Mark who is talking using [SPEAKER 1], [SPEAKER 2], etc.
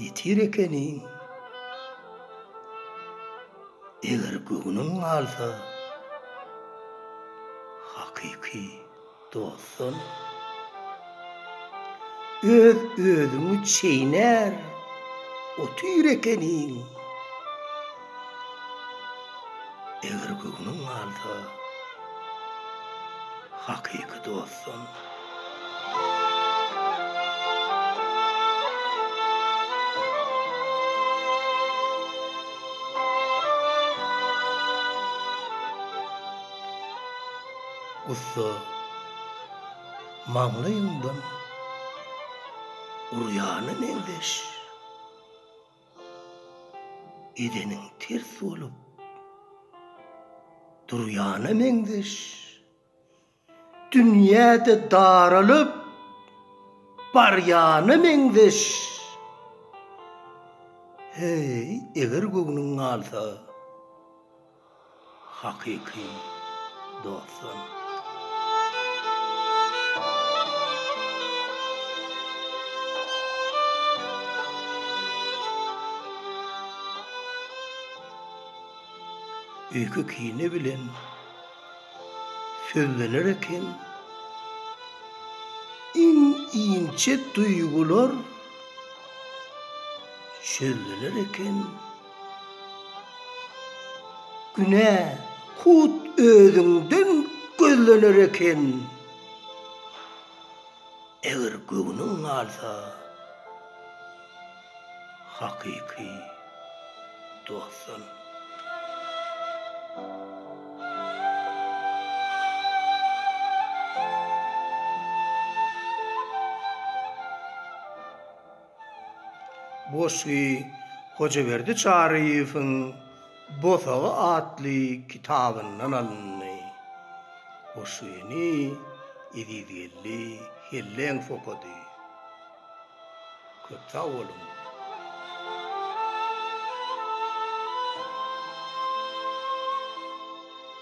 [SPEAKER 1] Ýetir ekeniň. Eger göwnüň galsa, hakyky dostdan öz özüňi çeýner otyr ekeniň. Eger göwnüň galsa, hakyky dostdan. Gussa, maňlaýyňdan urýana meňzeş. edeniň ters bolup durýana meňzeş. Dünýä-de daralyp barýana meňzeş. Heý, eger göwnüň galsa. hakyky dostlar. Öýke kine bilen sözlener eken iň inçe duýgular çözüler eken. Günä hut özüňden gözlener eken. Eger göwnüň galsa, hakyky dostdan. Goşgy Hojaberdi Çaryýewiň Bosagy atly kitabyndan alyndy. Goşgyny Ezizgeldi Helleňow okady. Köp sag boluň!